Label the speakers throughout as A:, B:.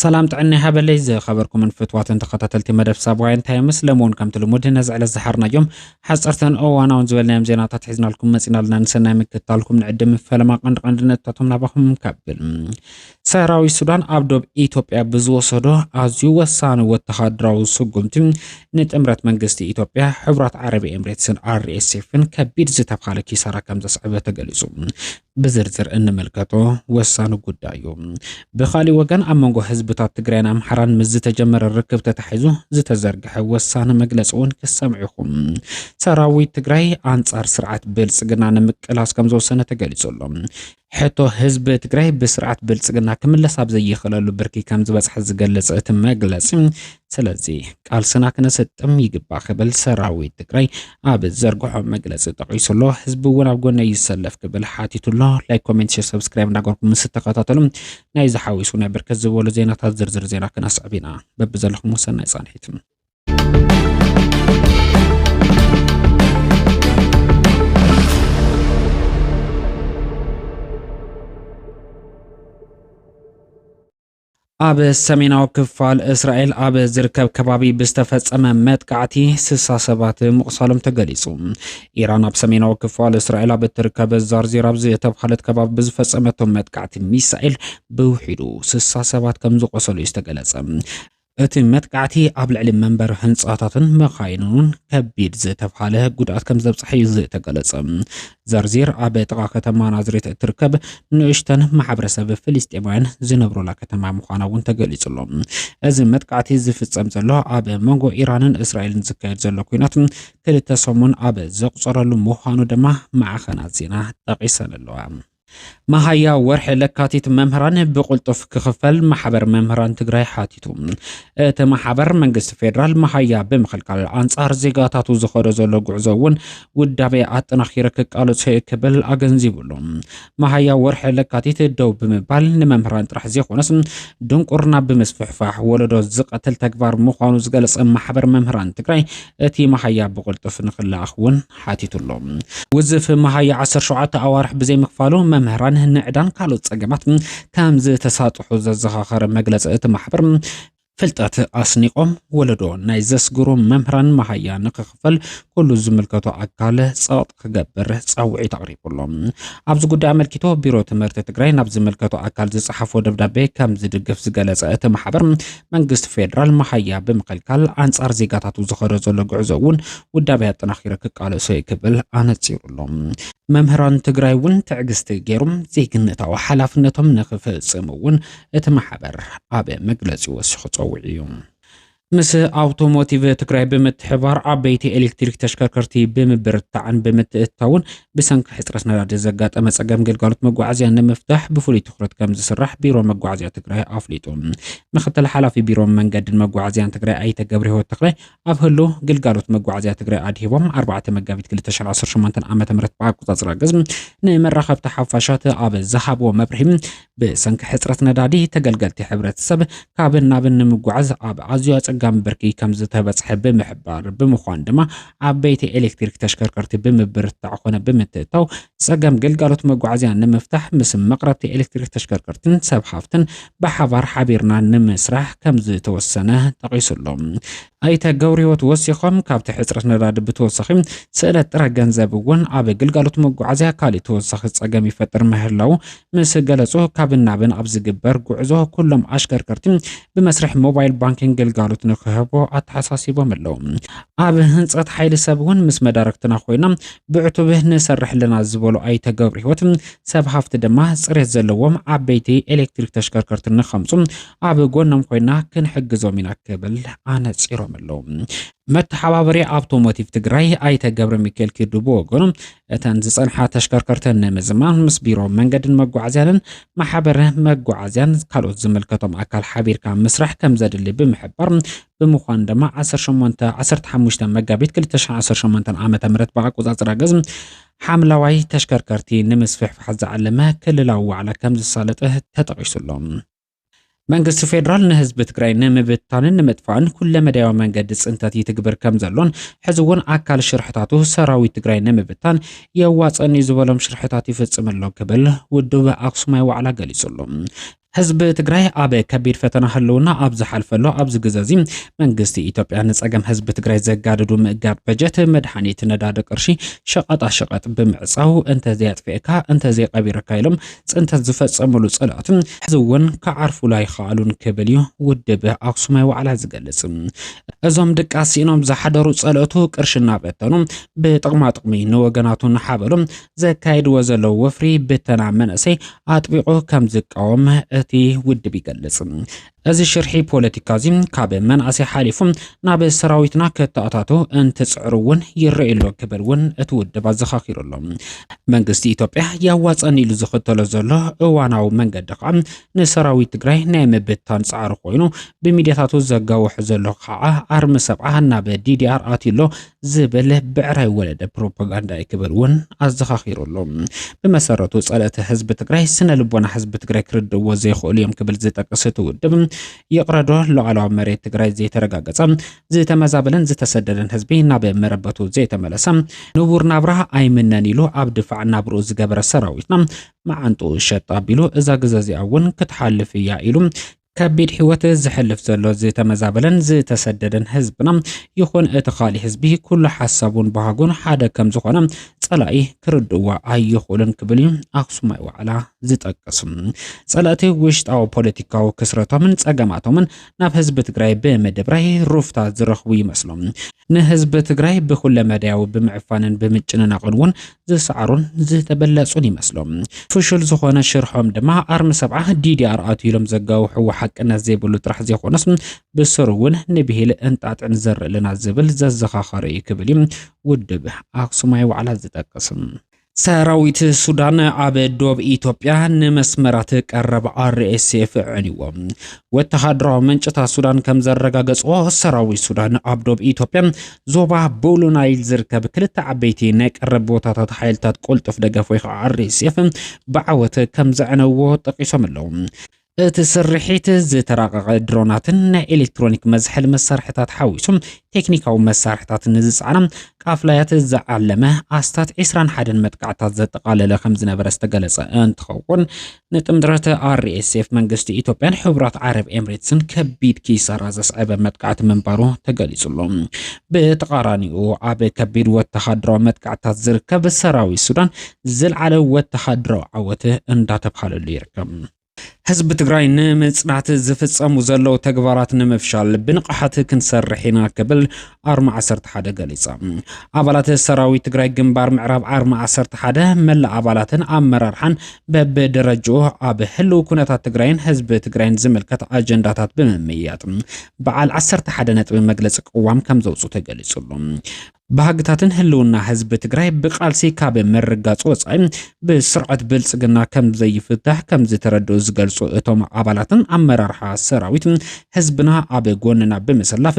A: ሰላም ጥዕና ይሃበለይ ዝኸበርኩምን ፍትዋትን ተኸታተልቲ መደብ ሳብዋይ እንታይ ምስ ለምውን ከምቲ ልሙድ ነዚ ዕለት ዝሓርናዮም ሓፀርተን እዋናውን ዝበልናዮም ዜናታት ሒዝናልኩም መፂና ኣለና ንሰናይ ምክትታልኩም ንዕድም ፈለማ ቀንዲ ቀንዲ ነጥብታቶም ናባኹም ከብል ሰራዊት ሱዳን ኣብ ዶብ ኢትዮጵያ ብዝወሰዶ ኣዝዩ ወሳኒ ወተሃደራዊ ስጉምቲ ንጥምረት መንግስቲ ኢትዮጵያ ሕብራት ዓረብ ኤምሬትስን ኣርኤስኤፍን ከቢድ ዝተብሃለ ኪሳራ ከም ዘስዕበ ተገሊጹ። ብዝርዝር እንምልከቶ ወሳኒ ጉዳይ እዩ። ብካሊእ ወገን ኣብ መንጎ ህዝብታት ትግራይን ኣምሓራን ምስ ዝተጀመረ ርክብ ተታሒዙ ዝተዘርግሐ ወሳኒ መግለፂ እውን ክሰምዑ ይኹም ሰራዊት ትግራይ ኣንጻር ስርዓት ብልጽግና ንምቅላስ ከም ዝወሰነ ተገሊጹ ኣሎ። ሕቶ ህዝቢ ትግራይ ብስርዓት ብልፅግና ክምለስ ኣብ ዘይኽእለሉ ብርኪ ከምዝበፅሐ ዝገልፅ እቲ መግለፂ፣ ስለዚ ቃልስና ክነሰጥም ይግባእ ክብል ሰራዊት ትግራይ ኣብ ዘርግሖ መግለፂ ጠቒሱ ኣሎ። ህዝቢ እውን ኣብ ጎነይ ይሰለፍ ክብል ሓቲቱ ኣሎ። ላይክ፣ ኮሜንት፣ ሼር፣ ሰብስክራይብ እንዳገበርኩም ምስ እተኸታተሉ ናይዚ ሓዊሱ ናይ ብርክት ዝበሉ ዜናታት ዝርዝር ዜና ክነስዕብ ኢና። በብዘለኹም ሰናይ ፃንሒት። ኣብ ሰሜናዊ ክፋል እስራኤል ኣብ ዝርከብ ከባቢ ብዝተፈጸመ መጥቃዕቲ ስሳ ሰባት ምቑሳሎም ተገሊጹ። ኢራን ኣብ ሰሜናዊ ክፋል እስራኤል ኣብ እትርከብ ዛርዚር ኣብ ዝተብሃለት ከባቢ ብዝፈጸመቶ መጥቃዕቲ ሚሳኤል ብውሒዱ ስሳ ሰባት ከም ዝቖሰሉ እዩ ዝተገለጸ። እቲ መጥቃዕቲ ኣብ ልዕሊ መንበሪ ህንጻታትን መኻይንን እውን ከቢድ ዝተብሃለ ጉድኣት ከም ዘብጽሐ እዩ ዝተገለጸ። ዘርዚር ኣብ ጥቓ ከተማ ናዝሬት እትርከብ ንእሽተን ማሕበረሰብ ፍልስጤማውያን ዝነብሩላ ከተማ ምዃና እውን ተገሊጹ ኣሎ። እዚ መጥቃዕቲ ዝፍጸም ዘሎ ኣብ መንጎ ኢራንን እስራኤልን ዝካየድ ዘሎ ኩናት ክልተ ሰሙን ኣብ ዘቑጸረሉ ምዃኑ ድማ ማዕኸናት ዜና ጠቒሰን ኣለዋ። መሃያ ወርሒ ለካቲት መምህራን ብቕልጡፍ ክኽፈል ማሕበር መምህራን ትግራይ ሓቲቱ። እቲ ማሕበር መንግስቲ ፌዴራል መሃያ ብምኽልካል ኣንጻር ዜጋታቱ ዝኸዶ ዘሎ ጉዕዞ እውን ውዳቤ ኣጠናኺረ ክቃለሶ እዩ ክብል ኣገንዚቡሉ። መሃያ ወርሒ ለካቲት ደው ብምባል ንመምህራን ጥራሕ ዘይኮነስ ድንቁርና ብምስፍሕፋሕ ወለዶ ዝቐትል ተግባር ምዃኑ ዝገለጸ ማሕበር መምህራን ትግራይ እቲ መሃያ ብቕልጡፍ ንክለኣኽ እውን ሓቲቱ ኣሎ። ውዝፍ መሃያ ዓሰርተ ሸውዓተ ኣዋርሕ ብዘይምኽፋሉ መምህራን ንዕዳን ካልኦት ጸገማት ከምዝተሳጥሑ ዘዘኻኸረ መግለጺ እቲ ማሕበር፣ ፍልጠት ኣስኒቖም ወለዶ ናይ ዘስግሩ መምህራን መሃያ ንክኽፈል ኩሉ ዝምልከቶ ኣካል ጸቕጥ ክገብር ጻውዒት ኣቕሪቡ ኣሎ። ኣብዚ ጉዳይ ኣመልኪቱ ቢሮ ትምህርቲ ትግራይ ናብ ዝምልከቶ ኣካል ዝጸሓፎ ደብዳቤ ከምዝድግፍ ዝገለጸ እቲ ማሕበር፣ መንግስቲ ፌደራል መሃያ ብምኽልካል ኣንጻር ዜጋታቱ ዝኸዶ ዘሎ ጉዕዞ እውን ውዳቤ ኣጠናኺረ ክቃለሶ እዩ ክብል ኣነጺሩ ኣሎ። መምህራን ትግራይ እውን ትዕግስቲ ገይሮም ዜግነታዊ ሓላፍነቶም ንክፍጽሙ እውን እቲ ማሕበር ኣብ መግለጺ ወሲኹ ጸዊዑ እዩ። ምስ ኣውቶሞቲቭ ትግራይ ብምትሕባር ዓበይቲ ኤሌክትሪክ ተሽከርከርቲ ብምብርታዕን ብምትእትታውን ብሰንኪ ሕፅረት ነዳዲ ዘጋጠመ ፀገም ግልጋሎት መጓዓዝያ ንምፍታሕ ብፍሉይ ትኹረት ከምዝስራሕ ቢሮ መጓዓዝያ ትግራይ ኣፍሊጡ። ምክትል ሓላፊ ቢሮ መንገድን መጓዓዝያን ትግራይ ኣይተ ገብረህይወት ተክላይ ኣብ ህሉ ግልጋሎት መጓዓዝያ ትግራይ ኣድሂቦም ኣርባዕተ መጋቢት ክልተ ሽሕ ዓሰርተ ሸሞንተ ዓ ም ብኣቆፃፅራ ግዝ ንመራኸብቲ ሓፋሻት ኣብ ዝሃብዎ መብርሂ ብሰንኪ ሕፅረት ነዳዲ ተገልገልቲ ሕብረተሰብ ካብን ናብን ንምጓዓዝ ኣብ ኣዝዩ ኣፀጋሚ ብርኪ ከምዝተበፅሐ ብምሕባር ብምዃን ድማ ዓበይቲ ኤሌክትሪክ ተሽከርከርቲ ብምብርታዕ ኮነ ብምትእታው ፀገም ግልጋሎት መጓዓዝያ ንምፍታሕ ምስ መቕረብቲ ኤሌክትሪክ ተሽከርከርትን ሰብ ሃፍትን ብሓባር ሓቢርና ንምስራሕ ከምዝተወሰነ ጠቒሱሎም ኣይተ ገብርሂወት ወሲኾም፣ ካብቲ ሕፅረት ነዳዲ ብተወሳኺ ስእለት ጥረ ገንዘብ እውን ኣብ ግልጋሎት መጓዓዝያ ካሊእ ተወሳኺ ፀገም ይፈጥር ምህላዉ ምስ ገለፁ፣ ካብን ናብን ኣብ ዝግበር ጉዕዞ ኩሎም ኣሽከርከርቲ ብመስርሕ ሞባይል ባንኪንግ ግልጋሎት ንክህቡ ኣተሓሳሲቦም ኣለዉ። ኣብ ህንፀት ሓይሊ ሰብ እውን ምስ መዳርግትና ኮይና ብዕቱብ ንሰርሕ ኣለና ዝበሉ ኣይተ ገብርሂወት፣ ሰብ ሃፍቲ ድማ ፅሬት ዘለዎም ዓበይቲ ኤሌክትሪክ ተሽከርከርቲ ንከምፁ ኣብ ጎኖም ኮይና ክንሕግዞም ኢና ክብል ኣነፂሮም ኣለው። መተሓባበሪ ኣውቶሞቲቭ ትግራይ ኣይተ ገብረ ሚካኤል ኪዱ ብወገኑ እተን ዝፀንሓ ተሽከርከርቲ ንምዝማን ምስ ቢሮ መንገድን መጓዓዝያንን ማሕበረ መጓዓዝያን ካልኦት ዝምልከቶም ኣካል ሓቢርካ ምስራሕ ከም ዘድሊ ብምሕባር ብምዃኑ ድማ 18 15 መጋቢት 2018 ዓ ም ብኣቆፃፅራ ግዝ ሓምለዋይ ተሽከርከርቲ ንምስፍሕፋሕ ዝዓለመ ክልላዊ ዋዕላ ከም ዝሳለጠ ተጠቒሱሎም መንግስቲ ፌዴራል ንህዝቢ ትግራይ ንምብታንን ንምጥፋእን ኩለ መዳያዊ መንገዲ ፅንተት ይትግብር ከም ዘሎን ሕዚ እውን ኣካል ሽርሕታቱ ሰራዊት ትግራይ ንምብታን የዋፀኒ ዝበሎም ሽርሕታት ይፍፅም ኣሎ ክብል ውድብ ኣክሱማይ ዋዕላ ገሊፁሉ። ህዝቢ ትግራይ ኣብ ከቢድ ፈተና ህልውና ኣብ ዝሓልፈሉ ኣብዚ ግዘ እዚ መንግስቲ ኢትዮጵያ ንፀገም ህዝቢ ትግራይ ዘጋድዱ ምእጋድ በጀት፣ መድሓኒት፣ ነዳዲ፣ ቅርሺ፣ ሸቐጣ ሸቐጥ ብምዕፃው እንተዘይኣጥፊእካ እንተዘይቐቢርካ ኢሎም ፅንተት ዝፈፀምሉ ፀላእቱ ሕዚ እውን ክዓርፉሉ ኣይኸኣሉን ክብል እዩ ውድብ ኣክሱማይ ዋዕላ ዝገልፅ። እዞም ድቃስ ሲኢኖም ዝሓደሩ ፀለእቱ ቅርሺ እናበተኑ ብጥቕማጥቕሚ ንወገናቱ እናሓበሉ ዘካይድዎ ዘለዉ ወፍሪ ብተና መነእሰይ ኣጥቢቑ ከምዝቃወም እቲ ውድብ ይገልፅ። እዚ ሽርሒ ፖለቲካ እዚ ካብ መናእሰይ ሓሊፉ ናብ ሰራዊትና ከተኣታቶ እንትፅዕሩ እውን ይረኣይ ኣሎ ክብል እውን እቲ ውድብ ኣዘኻኺሩ ኣሎ። መንግስቲ ኢትዮጵያ የዋፀኒ ኢሉ ዝኽተሎ ዘሎ እዋናዊ መንገዲ ከዓ ንሰራዊት ትግራይ ናይ ምብታን ፃዕሪ ኮይኑ ብሚድያታቱ ዘጋውሖ ዘሎ ከዓ ኣርሚ ሰብዓ ናብ ዲዲኣር ኣትዩ ኣሎ ዝብል ብዕራይ ወለደ ፕሮፓጋንዳ እዩ ክብል እውን ኣዘኻኺሩ ኣሎ። ብመሰረቱ ጸለእቲ ህዝቢ ትግራይ ስነ ልቦና ህዝቢ ትግራይ ክርድእዎ ዘይኽእሉ እዮም ክብል ዝጠቅስ እቲ ውድብ፣ ይቕረዶ ሉዓላዊ መሬት ትግራይ ዘይተረጋገጸ፣ ዝተመዛበለን ዝተሰደደን ህዝቢ ናብ መረበቱ ዘይተመለሰ፣ ንቡር ናብራ ኣይምነን ኢሉ ኣብ ድፋዕ ናብርኡ ዝገበረ ሰራዊትና መዓንጥኡ ሸጥ ኣቢሉ እዛ ግዘ እዚኣ እውን ክትሓልፍ እያ ኢሉ ከቢድ ህይወት ዘሕልፍ ዘሎ ዝተመዛበለን ዝተሰደደን ህዝብና ይኹን እቲ ኻሊእ ህዝቢ ኩሉ ሓሳቡን ባህጉን ሓደ ከም ዝኾነ ጸላኢ ክርድእዎ ኣይኽእሉን ክብል እዩ ኣክሱማይ ዋዕላ ዝጠቅስ። ጸላእቲ ውሽጣዊ ፖለቲካዊ ክስረቶምን ጸገማቶምን ናብ ህዝቢ ትግራይ ብምድብራይ ሩፍታ ዝረኽቡ ይመስሎም። ንህዝቢ ትግራይ ብኩለመዳያዊ ብምዕፋንን ብምጭንናቕን እውን ዝሰዓሩን ዝተበለጹን ይመስሎም። ፍሹል ዝኾነ ሽርሖም ድማ ኣርሚ ሰብዓ ዲዲኣር ኣትዩ ኢሎም ዘጋውሕዎ ሓቅነት ዘይብሉ ጥራሕ ዘይኮነስ ብስሩ እውን ንብሂል እንጣጥዕን ዘርእልና ዝብል ዘዘኻኸረ እዩ ክብል እዩ ውድብ ኣክሱማይ ዋዕላ ዝጠቅስም። ሰራዊት ሱዳን ኣብ ዶብ ኢትዮጵያ ንመስመራት ቀረብ ኣርኤስኤፍ ዕንዎ። ወተሃደራዊ ምንጭታት ሱዳን ከም ዘረጋገጽዎ ሰራዊት ሱዳን ኣብ ዶብ ኢትዮጵያ ዞባ ቦሉ ናይል ዝርከብ ክልተ ዓበይቲ ናይ ቀረብ ቦታታት ሓይልታት ቁልጡፍ ደገፍ ወይ ከዓ RSF ብዓወት ከም ዘዕነዎ ጠቂሶም ኣለዉ። እቲ ስርሒት ዝተራቐቐ ድሮናትን ናይ ኤሌክትሮኒክ መዝሐሊ መሳርሕታት ሓዊሱ ቴክኒካዊ መሳርሕታት ንዝጸዓና ቃፍላያት ዝዓለመ ኣስታት 21 መጥቃዕታት ዘጠቓለለ ከም ዝነበረ ዝተገለጸ እንትኸውን ንጥምረት RSF መንግስቲ ኢትዮጵያን ሕቡራት ዓረብ ኤምሬትስን ከቢድ ኪሳራ ዘስዐበ መጥቃዕቲ ምንባሩ ተገሊጹ ኣሎ። ብተቓራኒኡ ኣብ ከቢድ ወተሃደራዊ መጥቃዕትታት ዝርከብ ሰራዊት ሱዳን ዝልዓለ ወተሃደራዊ ዓወት እንዳተብሃለሉ ይርከብ። ህዝቢ ትግራይ ንምጽናት ዝፍጸሙ ዘለዉ ተግባራት ንምፍሻል ብንቕሓት ክንሰርሕ ኢና ክብል ኣርማ ዓሰርተ ሓደ ገሊጻ። ኣባላት ሰራዊት ትግራይ ግንባር ምዕራብ ኣርማ ዓሰርተ ሓደ መላእ ኣባላትን ኣመራርሓን በብደረጅኡ ኣብ ህልው ኩነታት ትግራይን ህዝቢ ትግራይን ዝምልከት ኣጀንዳታት ብምምያጥ በዓል ዓሰርተ ሓደ ነጥቢ መግለፂ ቅዋም ከም ዘውፅኡ ተገሊጹሉ። ባህግታትን ህልውና ህዝቢ ትግራይ ብቃልሲ ካብ ምርጋፅ ወፃኢ ብስርዓት ብልፅግና ከም ዘይፍታሕ ከም ዝተረድኡ ዝገልፁ እቶም ኣባላትን ኣመራርሓ ሰራዊት ህዝብና ኣብ ጎንና ብምስላፍ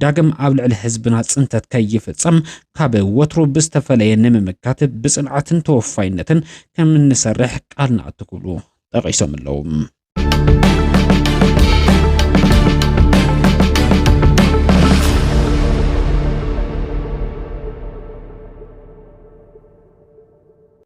A: ዳግም ኣብ ልዕሊ ህዝብና ፅንተት ከይፍፀም ካብ ወትሩ ብዝተፈለየ ንምምካት ብፅንዓትን ተወፋይነትን ከምንሰርሕ ቃል ንኣቱ ክብሉ ጠቒሶም ኣለዉ።